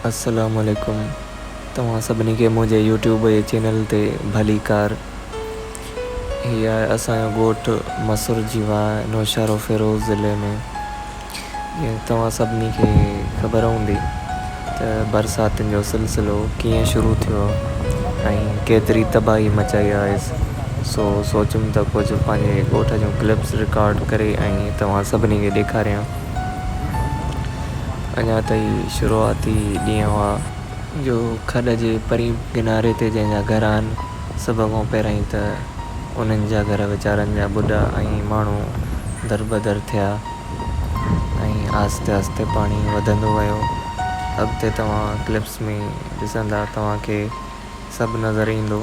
السلام عليڪم توهان سڀني کي منهنجي يوٽيوب جي چينل تي ڀلي ڪار هي آهي اسان جو ڳوٺ مسر جي واهه نوشهرو فيروز ضلعي ۾ جيئن توهان سڀني کي خبر هوندي ته برساتن جو سلسلو ڪيئن شروع ٿيو ۽ ڪيتري تباهي مچائي آهيس، سو سوچيم ته ڪجهه پنهنجي ڳوٺ جون ڪلپس رڪارڊ ڪري ۽ توهان سڀني کي ڏيکاريان. اڃا ته هي شروعاتي ڏينهن هئا. جو کڏ جي پرين ڪناري تي جنهن جا گهر آهن، سڀ کان پهريائين ته انهن جا گهر ويچارن جا ٻڍا ۽ ماڻهو دربدر ٿيا. ۽ آهستي آهستي پاڻي وڌندو ويو اڳتي توهان ڪلپس ۾ ڏسندا توهان کي سڀ نظر ايندو.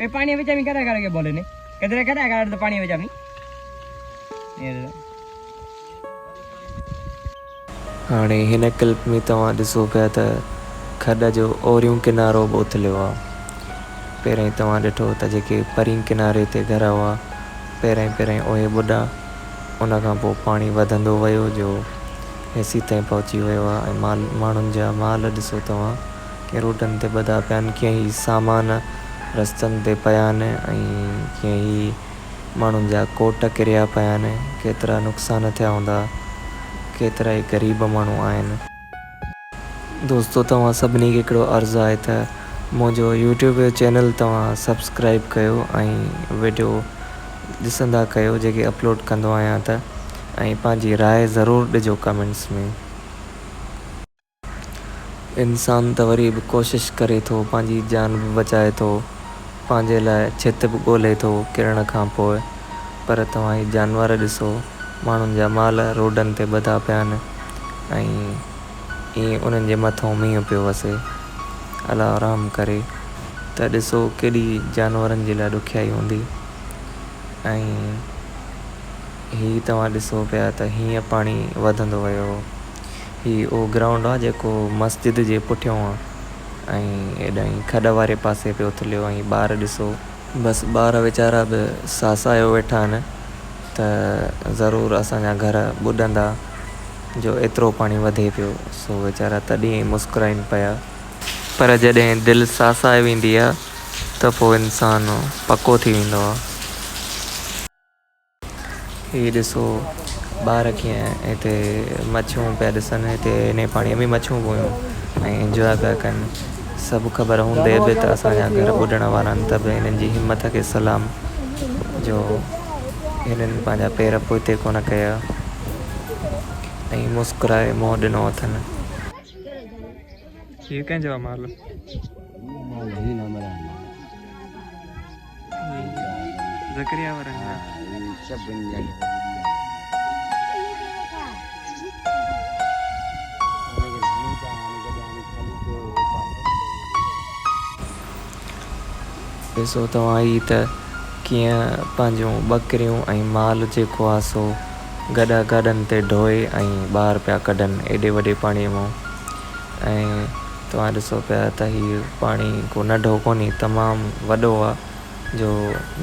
اي پاڻي وچ ۾ ڪڏا ڪڏا کي بولي نه ڪدري ڪڏا ڪڏا ته پاڻي وچ ۾ هاڻي هن ڪلپ ۾ توهان ڏسو پيا ته کڏ جو اوريون ڪنارو به اٿليو آ پهرئين توهان ڏٺو ته جيڪي پرين ڪناري تي گهر هئا پهرئين پهرئين اهي ٻڏا ان کان پوء پاڻي وڌندو ويو جو هيسي تائين پهچي ويو آ ۽ مال ماڻهن جا مال ڏسو توهان ڪي روڊن تي ٻڌا پيا آهن ڪي هي سامان رستن تي پيا آهن ۽ ڪي هي ماڻهن جا ڪوٽ ڪريا پيا آهن ڪيترا نقصان ٿيا هوندا ڪيترا ئي غريب ماڻهو آهن. دوستو توهان سڀني کي هڪڙو عرض آهي ته منهنجو يوٽيوب جو چينل توهان سبسڪرائب ڪيو ۽ ويڊيو ڏسندا ڪيو جيڪي اپلوڊ ڪندو آهيان ته ۽ پنهنجي راء ضرور ڏجو ڪمينٽس ۾. انسان ته وري به ڪوشش ڪري ٿو، پنهنجي جان به بچائي ٿو، پنهنجي لاء ڇت به ڳولهي ٿو ڪرڻ کان پوء، پر توهان هي جانور ڏسو، ماڻهن جا مال روڊن تي ٻڌا پيا آهن ۽ ايئن انهن جي مٿئون مينهن پيو وسي. الله رحم ڪري ته ڏسو ڪيڏي جانورن جي لاء ڏکيائي هوندي ۽ هي توهان ڏسو پيا ته هيئن پاڻي وڌندو ويو. هي اهو گرائونڊ آ جيڪو مسجد جي پٺيون آ ۽ هيڏانهن کڏ واري پاسي پيو اٿليو ۽ ٻار ڏسو. بس ٻار ويچارا به ساسايو ويٺا آهن ته ضرور اسان جا گهر ٻڏندا جو ايترو پاڻي وڌي پيو سو ويچارا تڏهن ئي مسڪرائين پيا. پر جڏهن دل ساسائي ويندي آ ته پوء انسان پڪو ٿي ويندو آ. هي ڏسو ٻار ڪيئن هتي مڇيون پيا ڏسن هتي هن پاڻي ۾ مڇيون به هيون ۽ انجواء پيا ڪن سڀ خبر هوندي به ته اسان جا گهر ٻڏڻ وارا آهن ته به هنن جي همٿ کي سلام جو هنن پنهنجا پير پوئتي ڪونه ڪيا ۽ مسڪرائي منهن ڏنو اٿن. هي ڪنهن جو آهي مال؟ ذڪريا ورن ها هي سڀن جا ڏسو توهان هي ته ڪيئن پنهنجون ٻڪريون ۽ مال جيڪو آ سو گڏا گاڏن تي ڍوئي ۽ ٻاهر پيا ڪڍن ايڏي وڏي پاڻي مون ۽ توهان ڏسو پيا ته هي پاڻي ڪو ننڍو ڪونهي تمام وڏو آ جو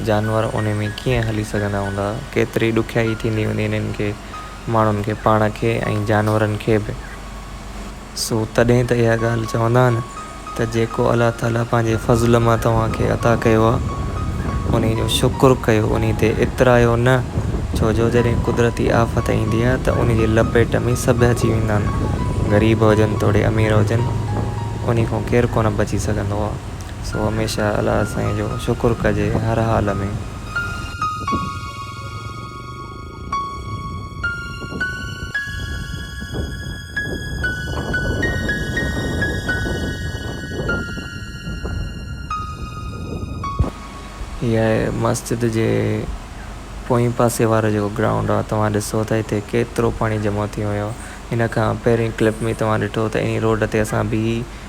جانور ان ۾ ڪيئن هلي سگهندا هوندا ڪيتري ڏکيائي ٿيندي هوندي انهن کي ماڻهن کي پاڻ کي ۽ جانورن کي به سو تڏهن ته اها ڳالهه چوندا آهن ته جيڪو الله تعاليٰ پنهنجي فضل مان توهان کي عطا ڪيو آ. انهي جو شڪر ڪيو، انهي تي اترايو نه، ڇو جو جڏهن قدرتي آفت ايندي آهي ته انهي جي لپيٽ ۾ سڀ اچي ويندا آهن، غريب هجن توڙي امير هجن، انهي کان ڪير ڪونه بچي سگهندو آهي، سو هميشه الله سائين جو شڪر ڪجي هر حال ۾. هيء مسجد جي پوئين پاسي وارو جيڪو گرائونڊ آهي توهان ڏسو ته هتي ڪيترو پاڻي جمع ٿي ويو آهي. هن کان پهرين ڪلپ ۾ توهان ڏٺو ته انهي روڊ تي اسان بيهي